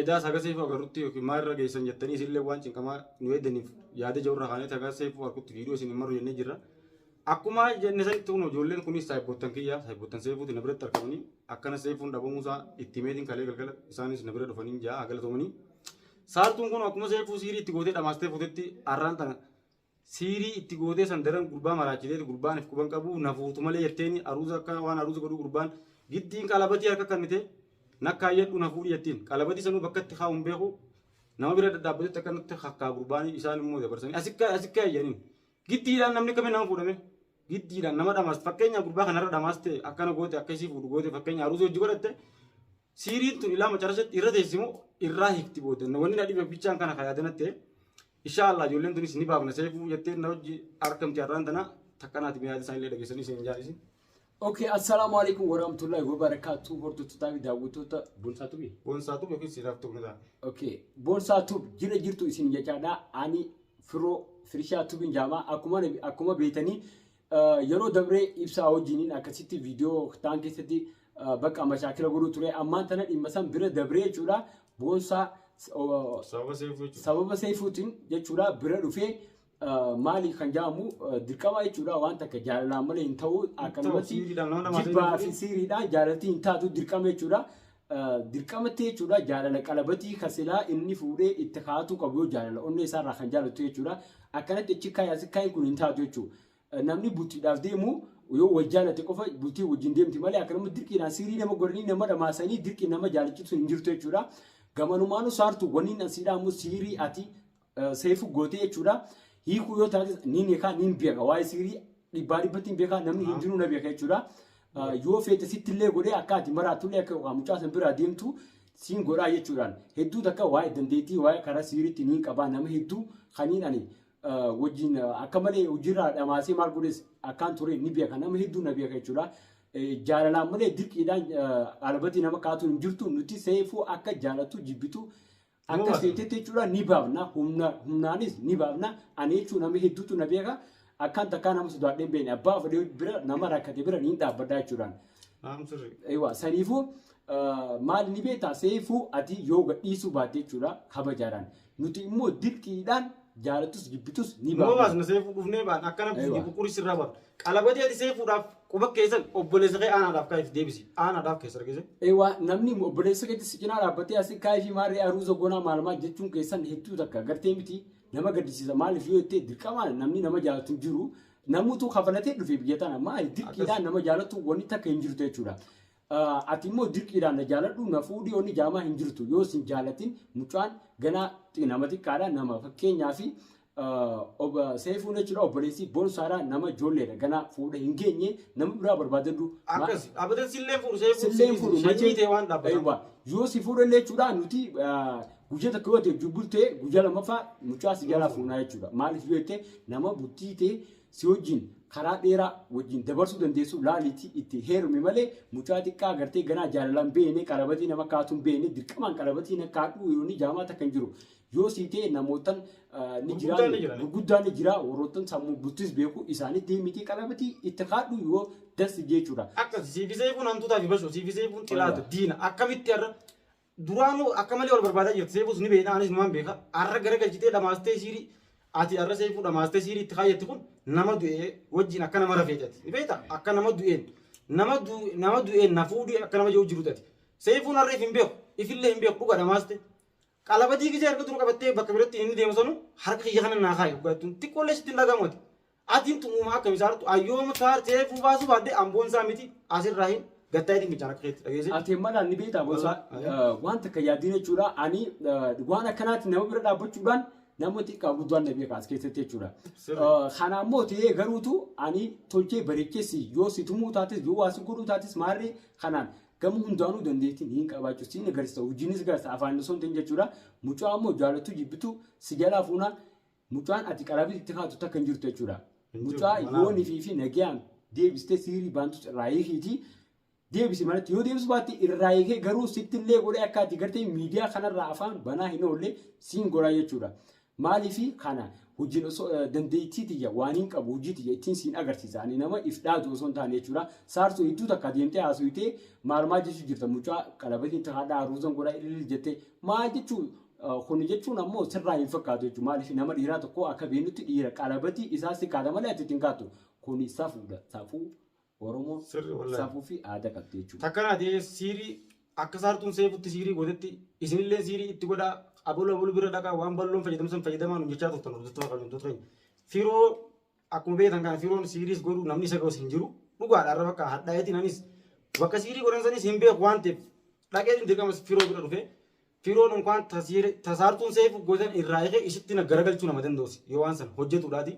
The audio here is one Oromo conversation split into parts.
Edaa isa haga seefuu agarrutti yookiin maal irra geessan jettanii isinillee waan cinqamaa nu eeddaniif yaada jedhu irra kaaneeti haga seefuu argutti viidiyoo isin hin marru jennee jirra. Akkuma jenne sanitti kun ijoolleen kunis saayibboottan kiyya saayibboottan seefuuti na biratti argamanii akkana seefuun dhabamuusaa itti himeetiin kalee galgala isaanis na bira dhufanii ja'a galatoomanii. Saartuun kun akkuma seefuu siirii itti gootee dhamaastee fuutetti arraan tana Siirii itti gootee san daran gurbaa maraachiteeti gurbaan if quban qabu na fuutu malee jetteeni aruuza akka waan aruuza godhu gurbaan giddiin qalabatii harka kannite nakkaayyadhu na fuudhi jettiin qalabatii sanuu bakka itti kaa'u hin beeku nama bira dhadhaabbatutti akkanatti kakkaa gurbaan isaan immoo dabarsanii asikka asikka eeyyaniin giddiidhaan namni kamiin nama fuudhame giddiidhaan nama dhamaas fakkeenya gurbaa kanarra dhamaaste akkana goote akka isii fuudhu goote fakkeenya aruuza hojii godhatte siiriin tun ilaa macarasatti irra teessimoo irraa hikti booda wanni na dhibe bichaan kana kayaadanatte Inshaa Allah ijoolleen tunis ni baafna seefuu jettee na hojji argamti har'aan tana takka naati miyaada isaan illee dhageessanii isin hin jaalisin. Okay, assalaamu alaikum warahmatullahi wabarakatuh hordoftotaa fi daawwattoota Bonsaa Tubii. Boonsaa tube yookiin siiraaf tube ni ta'a. Okay, Bonsaa Tub jira jirtu isin jechaadha. Ani firoo firishaa tubin jaamaa akkuma akkuma beetanii Yeroo dabree ibsaa wajjiniin akkasitti viidiyoo taan keessatti bakka mashaakila godhuu ture ammaan tana dhimma san bira dabree jechuudha boonsaa Sababa seefuu jechuudha. sababa seefuutiin jechuudha bira dhufee maali kan jedhamu dirqama jechuudha waan takka jaalalaan malee hin ta'u akkanumatti Siiriidhaan nama nama jibbaa ta'e fi siiriidhaan jaalaltii hin taatu dirqama jechuudha dirqamatti jechuudha jaalala qalabatii kan silaa inni fuudhee itti kaatuu qabu yoo jaalala onnee isaarraa kan jaalattu jechuudha akkanatti achi kaayi asi kaayi kun hin taatu jechuudha namni bultiidhaaf deemu yoo wal jaalate qofa bultii wajjin deemti malee akka namni dirqiidhaan siirii nama godhanii nama dhamaasanii dirqiin nama jaalachitu hin jirtu jechuudha gamanumaanuu saartu waniin asiidhaa immoo siirii ati Seefu gootee jechuudha. Hiikuu yoo taates ni beekaa ni beeka. Waa'ee siirii dhibbaa dhibbatti ni beekaa namni hin jiru na beeka jechuudha. Yoo feete sitti illee godhee akka ati maraattu illee akka yookaan mucaa san biraa deemtu siin godhaa jechuudhaan hedduu takka waa'ee dandeettii waa'ee karaa siiriitti ni qabaa nama hedduu kaniin ani wajjin akka malee hojiirraa dhamaasee maal godhes akkaan ture ni beeka nama hedduu na beeka jechuudha. Jaalalaan malee dirqiidhaan albatii nama kaatuun hin jirtu nuti seefuu akka jaalattu jibbitu Akkasitti jechuudha ni baafna humnaanis ni baafna ani jechuun nama hedduutu na beeka akkaan takkaa nama sodaadhee beekne abbaa fedhee bira nama rakkate bira ni dhaabbadhaa jechuudhaan. Ewa saniifuu maal ni beektaa seefuu ati yoo gadhiisuu baatte jechuudha kabajaadhaan nuti immoo dirqiidhaan jaalattus jibbitus ni baafna. Nuubaas na seefuu dhufnee baan akkana buqquri sirraa baafna. Qalabajee dhisee fuudhaaf quba keessan obboleessa kee aanaadhaaf kaayif deebisi aanaadhaaf keessa argise. Ewa namni obboleessa keetti si cinaa dhaabbatee asi kaayifii maarree aruuza gonaa maalumaa jechuun keessan hedduu takka gartee miti nama gaddisiisa maaliif yoo jettee dirqama namni nama jaalatu hin jiru namuutu kafalatee dhufe biyya tana maali dirqiidhaan nama jaalatu wanni takka hin jirtu jechuudha. Ati immoo dirqiidhaan na jaaladhu na fuudhi onni jaamaa hin jirtu yoo sin jaalatin mucaan ganaa nama xiqqaadha nama fakkeenyaa fi seefuun jechuudha obboleessi bonsaadha nama ijoolleedha ganaa fuudha hin geenye nama biraa barbaadadhu. Akkas dhaabbateen silleen fuudhu seefuun Silleen fuudhu sanyii machee ta'e waan dhaabbataan. eewwa yoo si fuudha illee jechuudha nuti guyyaa takka yoo ati wajjin bultee guyyaa lammaffaa mucaa si jalaa fuunaa jechuudha maaliif yoo jette nama bultii tee Si wajjin karaa dheeraa wajjin dabarsuu dandeessu laaliitii itti heerumi malee mucaa xiqqaa agartee ganaa jaalalaan beene qalabatii nama kaatuun beene dirqamaan qalabatii na kaadhuu yoonni jaamaa takka hin jiru. Yoo sii ta'e namootan ah, ni Gurguddaan ni jiraani jirani. gurguddaan ni jira warroottan sammuu bultis beeku isaanitti himitii qalabatii itti kaadhuu yoo das jechuudha. Akkasi siifi seefuun hantuutaa fi bashoo siifi seefuun xilaata Wallaahi. diina akkamitti har'a Duraanuu akka malee wal barbaadaa jirti. Seefuus ni beekna anis numaan beeka. Har'a gara galchitee dhamaastee siirii ati har'a seefuu dhamaastee siirii itti kaayyatte kun nama du'ee wajjin akka nama rafee jati. Ni beekta akka nama du'een nama nama du'een na fuudhee akka nama jiru jiru jati. Seefuun har'a if hin beeku ifillee hin beeku dhuga dhamaaste. Qalabadii gizee harka dura qabattee bakka biratti inni deemu sanu harka kiyya kana naa kaayi dhugaattuun xiqqoollee sitti hin dhagahamu ati. Atin tun uumaa akkami saartu an yoom saar seefuu baasuu baadhe an boonsaa miti asirraa hin gattaa'ee dinqichaan akka keetti dhageesse. Ati malaan ni beektaa Boonsaa? Boonsaa, eh. Eh, Waan takka yaaddiin jechuudha. Ani eh, waan akkanaatti nama bira dhaabbachuudhaan nama xiqqaa guddaan na beeka as keessatti jechuudha. Sirri. Eh, Kana ammoo ta'ee garuutu ani tolchee bareecheessi yoo si tumuu taates yoo waa si godhuu taates maarree kanaan gama hundaanuu dandeettiin hin qabaachuu siin agarsiisa hojiinis agarsiisa afaan osoo hin ta'in jechuudha. Mucaa ammoo jaalattu jibbitu si jalaa fuuna Mucaan ati qaraafis itti kaatu takka hin jirtu jechuudha. Hin jirtu, Mucaa manaa yoo fi- nifii fi nagayaan deebistee siirii baantus irraa hiikiitii deebisi manatti yoo deebisu baatte irraa hiikee garuu sitti illee godhee akka ati gartee miidiyaa kanarraa afaan banaa hin oolle siin godhaa jechuudha. Maaliifi kana hojiin osoo eh, dandeettii tiyya waan hin qabu hojii tiyya ittiin siin agarsiisa ani nama if dhaadu osoo hin taane jechuudha. Saartuu hedduu takka deemtee haasofitee maal maal jechuu jirta mucaa qalabatiin takkaadhaa ruuzan godhaa ililil jettee maal jechuu Kun jechuun ammoo sirraa hin fakkaatu jechuudha. Maaliif nama dhiiraa tokko akka beenutti dhiira qalabatii isaa si kaata malee ati ittiin kaatu. Kun safuudha. Safuu Oromoon Sirri wallahi. safuu fi aadaa qabdi jechuudha. Takka naa ta'ee siirii akka saartuun seefutti siirii gootetti isinillee siirii itti godhaa abaluu abaluu bira dhaqaa waan balloon fayyadamsan fayyadamaa nu jechaa turtan hordoftoota keenya hordoftoota keenya. Firoo Akkuma beektan kana firoon siiriis godhu namni isa gosa hin jiru. Dhugaadha har'a bakka hadhaa'eetiin anis bakka siirii godhan sanis hin beeku waan ta'eef dhaqeetiin dirqama firoo bira dhufe. Firoon unkaan tasaartuun seefu godan irraa eegee isitti na garagalchuu nama danda'us yoo waan san hojjetuudhaati.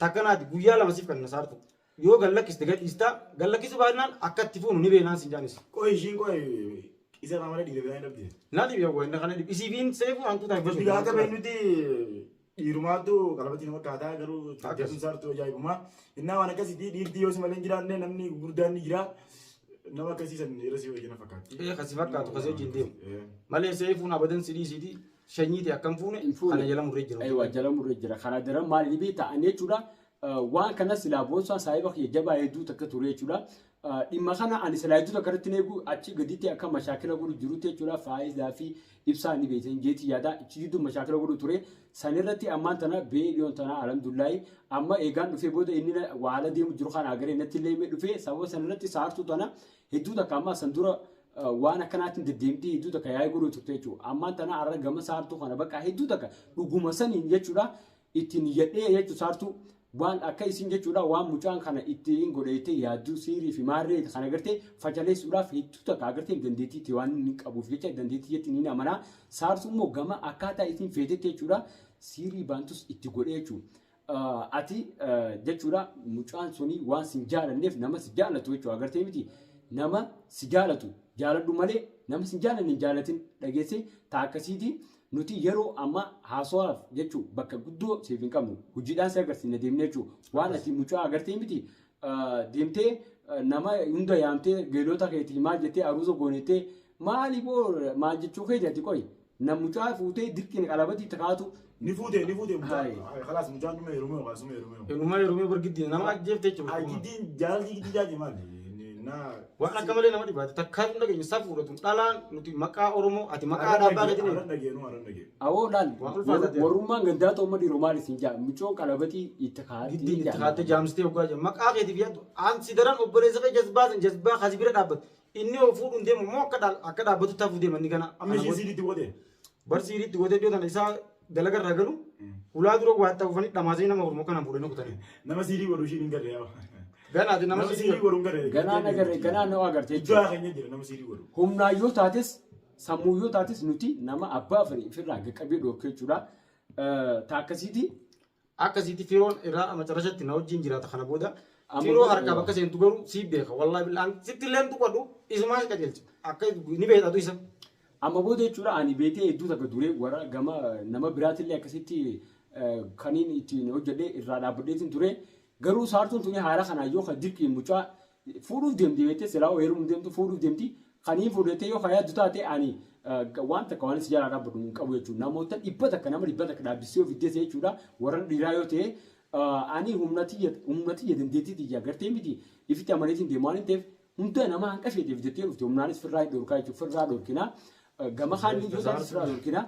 Takkanaati guyyaa lama siif kan na saartu. Yoo gad lakkiste gad dhiistaa gad lakkisuu baannaan akka itti fuunu ni beeknaan sin jaanis. Qoy ishiin qoy isa irraa malee dhiiga biraa hin dhabde. Na dhibe wayna kana dhibe isiifiin seefu hantuuta hin Nuti fayyadu. akka beeknutti Dhiirumaatu qalabatii nama kaataa garuu jajjabin saartuu ajaa'ibumaa. Innaa waan akkasiitii dhiirtii yoo si malee hin jiraanne namni gurguddaan ni jira. Nama akkasii san irra si wajjina fakkaatti. Ee kasi fakkaatu kasi wajjin deemu. Ee. Malee seefuun abadan si dhiisiiti shanyiiti akkam fuune Hin fuune. kana jala murree jira. Eewa jala murree jira. Kana dara maaliif ta'an jechuudha. Waan kana silaa boonsaa saahiba kiyya jabaa hedduu takka ture jechuudha. Dhimma kana ani silaayidii tokko irratti eegu achi gaditti akka mashaakila godhu jirutti jechuudha faayizaa fi ibsaa ni beektan jeeti yaada achi jidduu mashaakila godhu ture san irratti ammaan tana ba'ee dhiyoon tana alhamdulillahi amma eegaan dhufee booda inni waala deemu jiru kana agaree natti illee himee dhufee sababa san irratti saartuu tana hedduu takka ammaa san dura waan akkanaatiin deddeemtee hedduu takka yaa'ee godhu turte jechuudha ammaan tana har'a gama saartuu kana bakka hedduu takka dhuguma saniin jechuudha ittiin yadhee jechuun saartuu waan akka isin jechuudha waan mucaan kana ittiin godheettee yaadduu siirii fi maarree kan agartee fashaleessuudhaaf hedduu takka agartee dandeettii itti waan inni qabuuf jecha dandeettii jetti ni amanaa saartuu immoo gama akkaataa isin feetetti jechuudha siirii baantus itti godhee jechuudha. Ati jechuudha mucaan suni waan sin jaalanneef nama si jaalatu jechuudha agartee miti nama si jaalatu jaaladhu malee nama sin jaalanne hin jaalatin dhageessee taa akkasiitii. Nuti yeroo amma haasawaaf jechu bakka guddoo siif hin qabnu. Hojiidhaan si agarsiifna deemnee jechu. Waan ati mucaa agartee miti deemtee nama hunda yaamtee geelota keetii maal jettee aruuza goonettee maali boo maal jechuu keeti ati qoy. Nam mucaa fuutee dirqiin qalabatii itti kaatu. Ni fuute ni fuute mucaa. Hai. Kalaas mucaan dhuma heerumee yookaan suma heerumee. Inuma heerumee bar giddiin nama ajjeefte jechuudha. Giddiin jaalalli giddii jaati maali? Naa. Waan akka malee nama dhibaate takkaa hin dhageenye safuudha tun dhalaan nuti maqaa Oromoo ati maqaa dhaabaa keetiin Aran dhageenu aran dhageenu. Awoo laal Waan ulfaataa jira. warrummaan gandaa xoomma dhiiroo maal isin jaa mucoon qalabatii itti kaa'aatti giddiin itti kaattee jaamsitee hoggaa jiran maqaa keetiif yaaddu an si daran obboleessa kee jazbaa san jazbaa kasi bira dhaabbatu inni hoo fuudhuun deemu immoo akka dhaal- akka dhaabbatu taafuu deema inni kana Amma ishii siilitti godhe. Bar siiriitti gootee iddoo tana isaa dalaga irraa galu hulaa dura waa ta'uufanii dhamaasanii nama hormoo kana fuudhanii kutanii. Nama siirii godhu ishiin hin galle yaa. Ganaati nama Nama siirii godhu hin galle. Ganaa na garre ganaa na agarte Iddoo haa keenya jira nama siirii godhu. humnaa yoo taates sammuu yoo taates nuti nama abbaa fedhe ofirraa qaqqabee dhoorkee jechuudha. Taakkasiiti Akkasiiti firoon irraa macarashatti na wajjiin jiraata kana booda Amma firoo kun- harkaa bakka seentu garuu siif beeka wallahi billah an sitti illee hin tuqadhu isumaa si qajeelcha akka ni beekta tu isa Amma booda jechuudha ani beetee hedduu takka duree warra gama nama biraatillee akkasitti eh, kaniin ittiin hojjedhee irraa dhaabbadheetiin ture garuu saartuun tuni haala kanaan yoo kan dirqiin mucaa Fuudhuuf deemti beektee silaa hoo heerumuuf deemtu fuudhuuf deemti. Kan hin fuudhu jettee yoo kan yaaddu taate ani waan takka waan si jalaa dhaabbadhu hin qabu jechuudha. Namoota dhibba takka nama dhibba takka dhaabbisee ofi dese jechuudha. Warran dhiiraa yoo ta'e ani humna tiyya humna tiyya dandeettii tiyya gartee miti ifitti amaneetiin deemu waan hin ta'eef hunda nama hanqa isheetiif jettee dhufte humnaanis firraa hin dhorkaa jechuudha. Firraa dhorkina. Gama kaaniin yoo taate firraa dhorkina.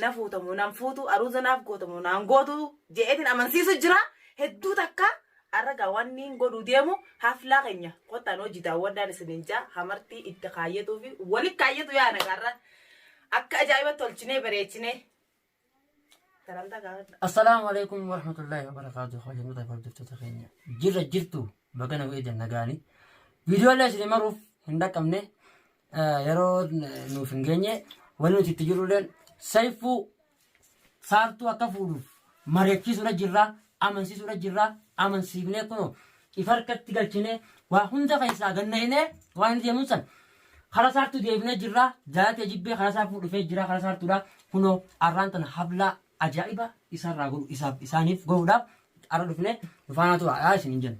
na fuuta moo nan fuutu aruuza naaf goota moo naan gootu je'eetiin amansiisu jira hedduu takka arragaa waan inni hin godhuu deemu haflaa keenya kottaan hojii daawwadhaan isiniin jaa hamartii itti kaayyatuu fi wali kaayyatu yaa nagaarra akka ajaa'ibatti tolchinee bareechinee salantaa gaafadha. Assalaamu alaikum warahmatullahi wabarakatuh. Hojjannota hordoftoota keenya jirra jirtu baga nagaan nagaani. Viidiyoolee isin maruuf hin dhaqqabne yeroo nuuf hin geenye wanni nuti itti jirrulleen sayfuu saartuu akka fuudhuuf mari'achiisuudha jirra amansiisuudha jirra amansiifnee kunoo ifa harkatti galchinee waa hunda keessaa ganna'inee waan inni deemuun san kara saartuu deebinee jirra jaalatee jibbee kara isaa fuudhufee jira kara saartuudha kunoo arraan tana hablaa ajaa'iba isaarraa godhu isaaf isaaniif godhuudhaaf arra dhufnee dhufaanaa tura yaa isin hin jennu.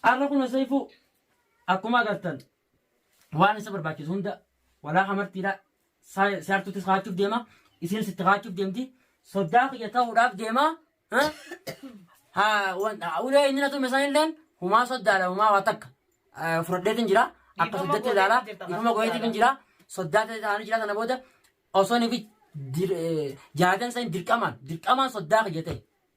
Arra kun Seifuu Akkuma agartan waan isa barbaachisu hunda walaa hamartiidha siyaartuuttis kaachuuf deema isiin sitti kaachuuf deemti soddaa kiyya ta'uudhaaf deema ulee inni natume san illeen humaa soddaadha humaa waa takka fudhadheetiin jira akka soddatti ilaala ifuma goyeetiin jira soddaa ta'anii jira sana booda osoo nifi jaadan san dirqamaan dirqamaan soddaa kiyya ta'e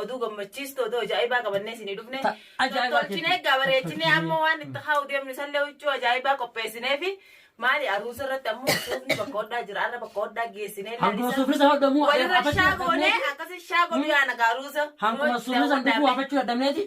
Oduu gammachiistu oduu ajaa'ibaa qabannee isinii dhufne. Ta- ajaa'ibaa Tolchinee keetti. egaa bareechinee amma waan itti haa'u deemnu isallee huccuu ajaa'ibaa qopheessinee fi maali aruusa irratti ammoo suufni bakka hodhaa jira arra bakka hodhaa geessinee Hanguma suufni sana hodhamu walirra hafachuu shaa goonee dadhabneeti. akkasii shaa godhu yaa nagaa aruusa. Hanguma suufni sana dhufuu hafachuu dadhabneeti.